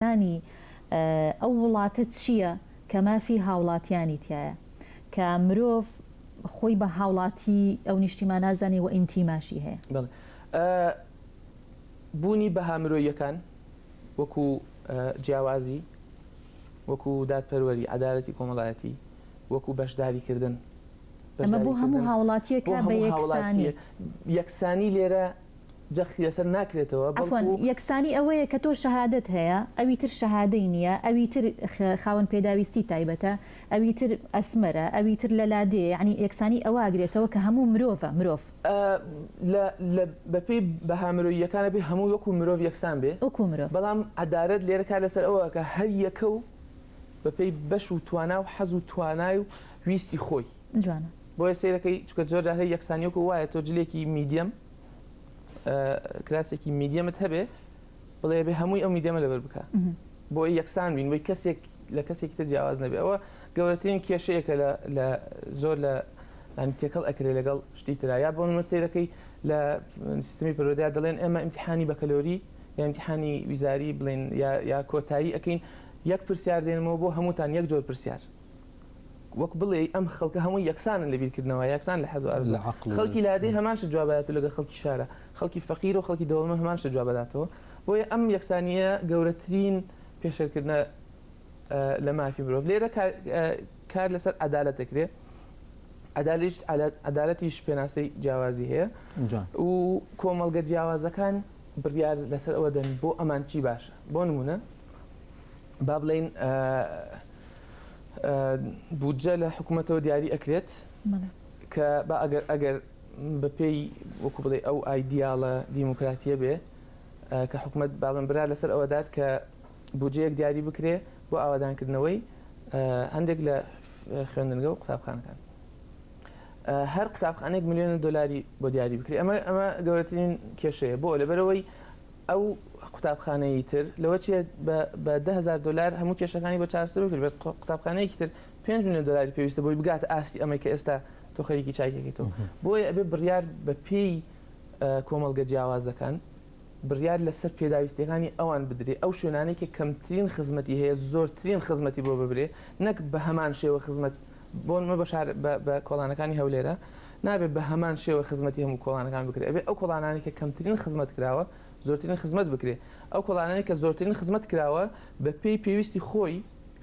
هەڵسەنگاندنی ئەو وڵاتە چییە کە مافی هاوڵاتیانی تیایە کە مرۆڤ خۆی بە هاوڵاتی ئەو نیشتیمانە زانێ و ئینتیماشی هەیە. بوونی بەها مرۆییەکان وەکو جیاوازی، وەکو دادپەروەری، عەدالەتی کۆمەڵایەتی، وەکو بەشداریکردن، بەشداریکردن، بۆ هەموو هاوڵاتییەکە بە یەکسانی. یەکسانی لێرە جەختی لەسەر ناکرێتەوە عەفوەن بەڵکو. یەکسانی ئەوەیە کە تۆ شەهادەت هەیە ئەوی تر شەهادەی نیە ئەوی تر خاوەن پێداویستی تایبەتە ئەوی تر ئەسمەرە ئەوی تر لە لادێیە یەعنی یەکسانی ئەوە ئەگرێتەوە کە هەموو مرۆڤە مرۆڤ. لە لە بەپێی بەها مرۆییەکان ئەبێ هەمووی وەکو مرۆڤ یەکسان بێ وەکو مرۆڤ. بەڵام عەدالەت لێرە کار لەسەر ئەوە ئەکا هەر یەکە و بەپێی بەش و توانا و حەز و توانای و ویستی خۆی جوانە. بۆیە سەیرەکەی چونکە زۆر جار هەی یەکسانی وەکو وایە تۆ جلێکی میدیەم. کراسێکی میدیەمت هەبێ بڵێ بێ هەمووی ئەو میدەمە لەبەر بکە بۆ یەکسان بین بۆی کەسێک لە کەسێکی تر جیاواز نەبێ ئەوە گەورەترین کێشەیەکە لە زۆر لە ینی تێکەڵ ئەکرێ لەگەڵ شتی تررا یا بۆ منمە سیرەکەی لە سیستمی پرۆدیا دەڵێن ئێمە امتحانی بەکەلۆری یامتحانی ویزاری بڵێن یا کۆتایی ئەەکەین یەک پرسیار دێنمەوە بۆ هەمووتان یەک جۆر پرسیار وەک بڵێ ئەم خەڵکە هەمووی یەکسانن لە بیرکردنەوە یەکسان لە حەز لە خەڵکی لادێ هەماشە جوابات لەگە خەڵکی شارە خەڵکی فەقیر و خەڵکی دەوڵمە هەماشە جواب بداتەوە بۆیە ئەم یەکسانیە گەورەترین پێشەکردە لە مافی مرۆڤ لێرە کار لەسەر عدالت دەکرێت عدالش عدالەتیش پێناسەی جیاوازی هەیە و کۆمەڵگە جیاوازەکان بڕیار لەسەر ئەوە دەن بۆ ئەمان چی باشە بۆ نمونە با بڵێین بودجە لە حکوومەتەوە دیاری ئەکرێت کە با ئەگەر ئەگەر بەپێی وەکو بڵێ ئەو ئایدیاڵە دیموکراتیە بێ کە حکوومەت باڵم برا لەسەر ئەوەدات کە بودجەیەک دیاری بکرێ بۆ ئاوادانکردنەوەی هەندێک لە خوێندنگە و قوتابخانەکان هەر قوتابخانێک میلیۆن دلاری بۆ دیاری بکرێت ئەمە ئەمە گەورەترین کێشەیە بۆ لەبەرەوەی ئەو قوتابخانەیی تر لەوە چیە بە دە هەزار دۆلار هەموو کێشەکانی بە چارەسەر بکرد بەس قوتابخانەیەکی تر پێنج ملیۆن دۆلاری پێویستە بۆی بگاتە ئاستی ئەمەی کە ئێستا تۆ خەریکی چای دەکەیتەوە بۆیە ئەبێ بڕیار بە پێی کۆمەڵگە جیاوازەکان بڕیار لەسەر پێداویستیەکانی ئەوان بدرێ ئەو شوێنانەی کە کەمترین خزمەتی هەیە زۆرترین خزمەتی بۆ ببرێ نەک بە هەمان شێوە خزمەت بۆنمە بە شار بە کۆڵانەکانی هەولێرە نابێت بە هەمان شێوە خزمەتی هەموو کۆڵانەکان بکرێت ئەبێ ئەو کۆڵانانی کە کەمترین خزمەت کراوە زۆرترین خزمەت بکرێت ئەو کۆڵانانی کە زۆرترین خزمەت کراوە بە پێی پێویستی خۆی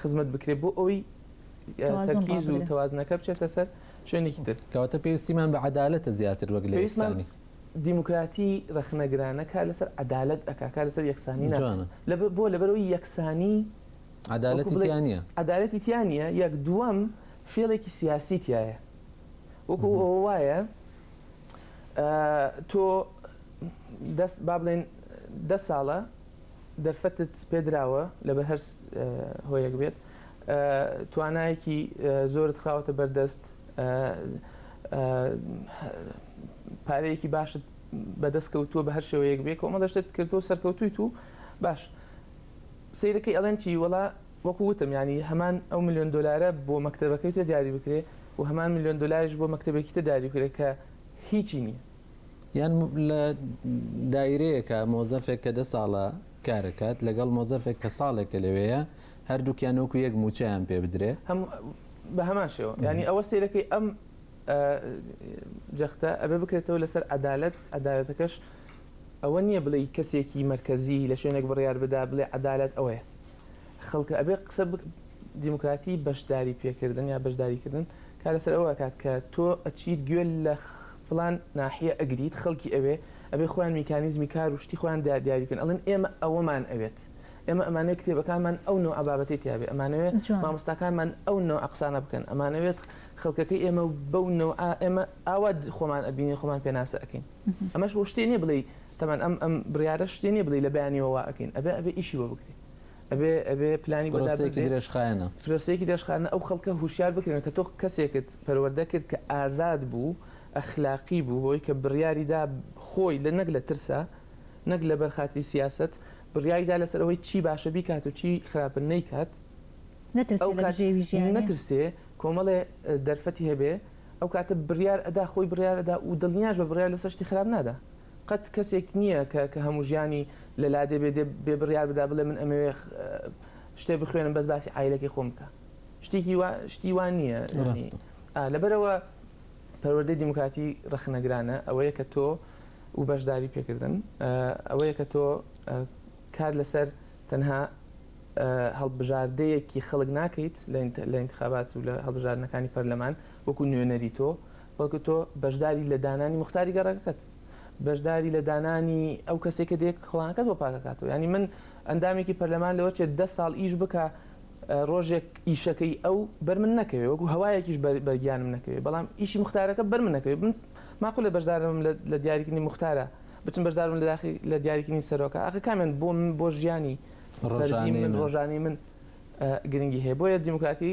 خزمەت بکرێت بۆ ئەوی تەرکیز و تەوازنەکە بچێتە سەر شوێنێکی تر کەواتە پێویستیمان بە عدالەتە زیاتر وەک لە ئێسانی دیموکراتی ڕخنەگرانەکە لەسەر عدالت ئەکاکە لەسەر یەکسانی لە بۆ لەبەرەوەی یەکسانی عەدالەتی تیا نیە عەدالەتی تیا نیە یەک دووەم فێڵێکی سیاسی تایە وەکو ئەوە وایە تۆ دەست با بڵێن دە ساڵە دەرفەتت پێدراوە لەبەر هەر هۆیەک بێت توانایەکی زۆرت خاوەتە بەردەست پارەیەکی باشت بەدەست کەوتووە بە هەر شێوەیەک بێ کۆمەڵەشتت کردو سەرکەوتویت و باش سەیرەکەی ئەڵێن چی وەڵا وەکو وتم یانی هەمان ئەو ملیۆن دۆلارە بۆ مەکتەبەکەی تر دیاری بکرێ و هەمان ملیۆن دۆلاریش بۆ مەکتەبێکی تر داری بکرێ کە هیچی نییە. یان لە دایرەیەکە مۆزەفێک کە دە ساڵە کارەکات لەگەڵ مۆزەفێک کە ساڵێکە لەوێیە هەردووکیان وەکو یەک مووچەیان پێ بدرێ. هەم بە هەمان شێوە یانی ئەوە سەیرەکەی ئەم جەختە ئەبێ بکرێتەوە لەسەر عەدالەت، عەدالەتەکەش ئەوە نیە بڵێی کەسێکی مەرکەزی لە شوێنێک بڕیار بدا بڵێ عەدالەت ئەوەیە خەڵکە ئەبێ قسە بک دیموکراتی بەشداری پێکردن یا بەشداری کردن کار لەسەر ئەوە ئەکات کە تۆ ئەچیت گوێ لە فڵان ناحیە ئەگریت خەڵکی ئەوێ ئەبێ خۆیان میکانیزمی کار و شتی خۆیان دا دیاری بکەن ئەڵێن ئێمە ئەوەمان ئەوێت ئێمە ئەمانەوێت کتێبەکانمان ئەو نوعە بابەتی تیاێ ئەمانەوێت جوان مامۆستاکانمان ئەو نوعە قسانە بکەن ئەمانەوێت خەڵکەکەی ئێمە و بەو نوعە ئێمە ئاوا خۆمان ئەبینین خۆمان پێناسە ئەکەین ئەمەش بۆ شتێ نیە بڵێی تەمان ئەم ئەم بڕارە شتێ نیە بڵی لە بەیانیەوە واکەین ئەبێ ئەبێ ئیشی بۆ بکرێت ئەبێ ئەبێ پلانی بەداسێکی درێژخایەنە فرۆسێکی دەشخانە ئەو خەڵکە هوشار بکرێن کە تۆ کەسێکت پەروەەردە کرد کە ئازاد بوو ئەخلاقی بوو بۆی کە بڕیاریدا خۆی لە نەک لە ترسە نەک لە بەرخاتی سیاست بڕیاریدا لەسەرەوەی چی باشە بیکات و چی خراپن نەیکات نەترسێ کۆمەڵێ دەرفەتی هەبێ ئەو کاتە بریار ئەدا خۆی بریار ئەدا و دلنیاش بە بریار لەسەر شتی خراپ نادا قەت کەسێک نییە کە کە هەموو ژیانی لە لادێ بێ دێ بێ بریار بدا بڵێ من ئەمەوێ شتێ بخوێنم بەس باسی عیلەکەی خۆم بکە شتێکی وا شتی وان نییە لەبەرەوە پەروەردەی دیموکراتی ڕخنەگرانە ئەوەیە کە تۆ و بەشداری پێکردن ئەوەیە کە تۆ کار لەسەر تەنها هەڵبژاردەیەکی خەڵک ناکەیت لە ئینتخابات و لە هەڵبژاردنەکانی پەرلەمان وەکو نوێنەری تۆ بەڵکو تۆ بەشداری لە دانانی مختاری گەڕەکەت بەشداری لە دانانی ئەو کەسێک کە دێک کڵانەکەت بۆ پاکەکاتەوە ینی من ئەندامێکی پەرلەمان لەوە چێت ده ساڵ ئیش بکە ڕۆژێک ئیشەکەی ئەو بەر من نەکەوێ وەکو هەوایەکیش بەگیانم نەکەوێ بەڵام ئیشی مختارەکە بەر من نەکەوێ من ماقولە بەشدارم لە دیاریکردنی مختارە بچم بەشدار بم لەداخی لە دیاریکردنی سەرۆکە ئەخە کامیان بۆ من بۆ ژیانی ڕۆژانی فەردی من ڕۆژانی من ئە، گرنگی هەیە بۆیە دیموکراتی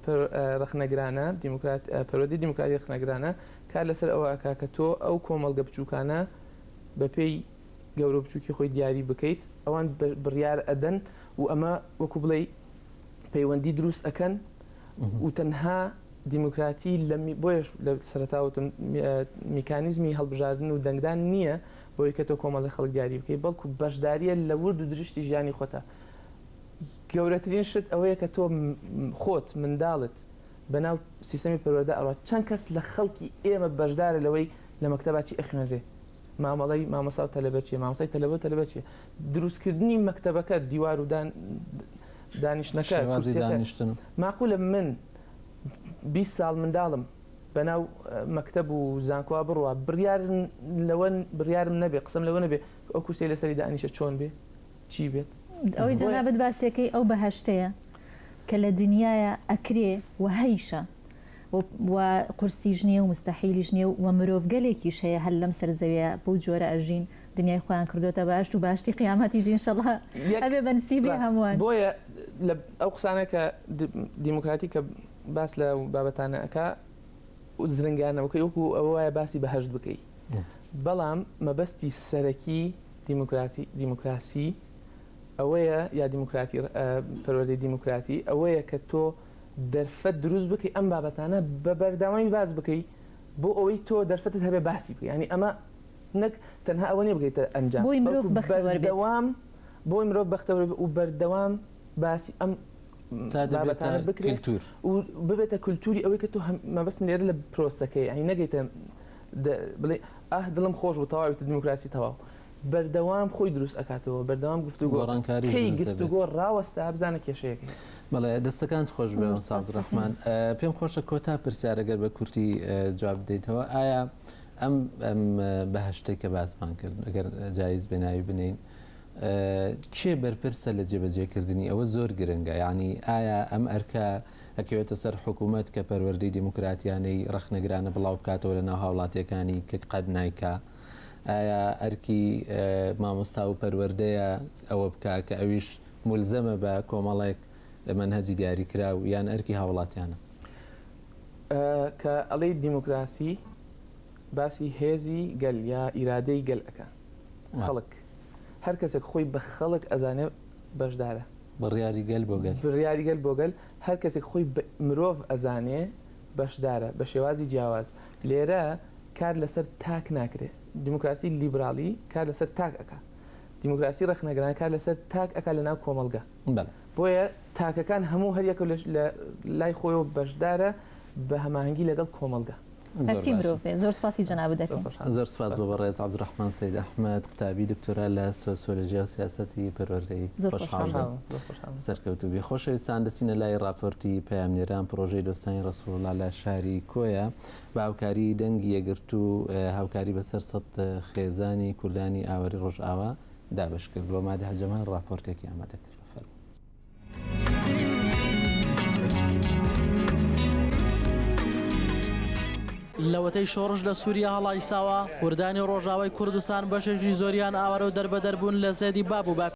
پر- ئە، ڕەخنەگرانە دیموکرات ئە، پەروەردەی دیموکراتی ڕەخنەگرانە کار لەسەر ئەوە ئەکا کە تۆ ئەو کۆمەڵگە بچووکانە بەپێی گەورە و بچووکی خۆی دیاری بکەیت ئەوان بە- بڕیار ئەدەن و ئەمە وەکوو بڵێی پەیوەندی دروست ئەکەن و تەنها دیموکراتی لە می بۆیەش لە سەرەتاوە وتم می ئە میکانیزمی هەڵبژاردن و دەنگدان نییە بۆی کە تۆ کۆمەڵی خەڵک دیاری بکەی بەڵکو بەشدارییە لە ورد و درشتی ژیانی خۆتا گەورەترین شت ئەوەیە کە تۆ خۆت منداڵت بەناو سیستەمی پەروەردە ئەڕات چەند کەس لە خەڵکی ئێمە بەشدارە لەوەی لە مەکتەبا چی ئەخوێنرێ مامەڵەی مامۆسا و تەلەبە چیە مامۆسای تەلەبە و تەلەبە چیە دروستکردنی مەکتەبەکە دیوار و دان دانیشتنەکە شێوازی کورسیەکە دانیشتن ماقولە من بیست ساڵ منداڵم بەناو مەکتب و زانکۆوا بڕە بڕیار لەوە بڕیارم نەبێ قسم لەوە نەبێ ئەو کورسی لەسەری دانیشە چۆن بێ چی بێت ئەوەی جەنابەت باسیەکەی ئەو بەهشتەیە کە لە دنیاە ئەکرێ و هەیشە و قورسیش نیە و مستحیلیش نیە و مرۆڤگەلێکیش هەیە هەر لەم سەرزەوێ بەو جۆرە ئەژین دنیای خۆیان کردۆتە بەهەشت و بەهەشتی قیامەتیش ئینشەڵا ئەبێ بە نسیبی هەمووان بۆیە ئەو قسانە کە دیموکراتی کە باس لە بابەتانە ئەکا زرنگانەوەکەی وەکو ئەوە وایە باسی بەهشت بکەیت بەڵام مەبەستی سەرەکی دیموکراتی دیموکراسی ئەوەیە یا دیموکراتی پەروەدە دیموکراتی ئەوەیە کە تۆ دەرفەت دروست بکەی ئەم بابەتانە بە بەرداوای باز بکەی بۆ ئەوەی تۆ دەرفەتت هەبێ باسی بکە ینی ئەمە نەک تەنها ئەوە نیە بگەیتە ئەنجام بۆی مرۆڤ بەختەوەر بێت بەردەوام بۆی مرۆڤ بەختەوەر بێت و بەردەوام باسی ئەم تا دەبێتە بابەتانە بکرێت کلتور و ببێتە کلتوری ئەوەی کە تۆ هەم مەبەستم لێرە لە پرۆسەکەی یانی نەگەیتە دە بڵێ ئاه دڵم خۆش بوو تەواوی تر دیموکراسی تەواو بەردەوام خۆی دروست ئەکاتەوە بەردەوام گفتوگۆ گۆڕانکاریش کەی دروست گفتوگۆ دەبێت ڕاوەستا بزانە کێشەیەک هەیە بەڵێ دەستەکانت خۆش بێ مامۆستا سوپاس عەبدولڕەحمان. ڕەحمانە پێم خۆشە کۆتا پرسیارە گەر بە کورتی جواب بدەیتەوە ئایا ئەم بەهەشتەی کە باسمان کرد ئەگەر جایز بێ ناوی بنێین کێ بەرپرسە لە جێبەجێکردنی ئەوە زۆر گرنگە یعنی ئایا ئەم ئەرکە ئەکەوێتە سەر حکوومەت کە پەروەردەی دیموکراتیانەی ڕخنەگرانە بڵاو بکاتەوە لە ناو هاوڵاتیەکانی کە قەت نیکە ئایا ئەرکی مامۆستا و پەروەردەیە ئەوە بکە کە ئەویش ملزەمە بە کۆمەڵێک منهجی دیاری کرا و یان ئەرکی هاوڵاتیانە کە ئەڵێی دیموکراسی باسی هێزی گەل یا ئیرادەی گەل ئەەکە خەڵک هەر کەسێک خۆی بە خەڵک ئەزانێ بەشدارە بڕیاری گەل بۆ گەل بڕیاری گەل بۆ گەل هەر کەسێک خۆی مرۆڤ ئەزانێ بەشدارە بە شێوازی جیاواز لێرە کار لەسەر تاک ناکرێ دیموکراسی لیبرالی کار لەسەر تاک ئەک دیموکراسی ڕخنەگران کار لەسەر تاک ئەک لە ناو کۆمەلگە بۆیە تاکەکان هەموو هەریەکە لە لای خۆیەوە بەشدارە بە هەماهەنگی لەگەڵ کۆمەڵگە. هەرچی مرۆڤ بێ زۆر سپاسی جەنابت دەکەین. زۆر سپاس بۆ بەڕێز عەبدولڕەحمان سەید ئەحمەد قوتابی دکتۆرا لە سۆسیۆلۆژیا و سیاسەتی پەروەردەیی. زۆر خۆشحاڵ بووم. زۆر خۆشحاڵ بووم. سەرکەوتوو بی. خۆشەویستان دەچینە لای ڕاپۆرتی پەیامنێران پڕۆژەی دۆستانی ڕەسووڵڵا لە شاری کۆیە بە هاوکاری دەنگی یەکگرتوو هاوکاری بەسەر سەد خێزانی کوردانی ئاوەری ڕۆژئاوا دابەشکرد و مادحە جەمال ڕاپۆرتێکی ئامادە کرد. لەوەتەی شۆڕش لە سووریا هەڵایساوە کوردانی ڕۆژاوای کوردستان بەشێکی زۆریان ئاوارە و دەربەدەربوون لە زێدی باب و باپیرە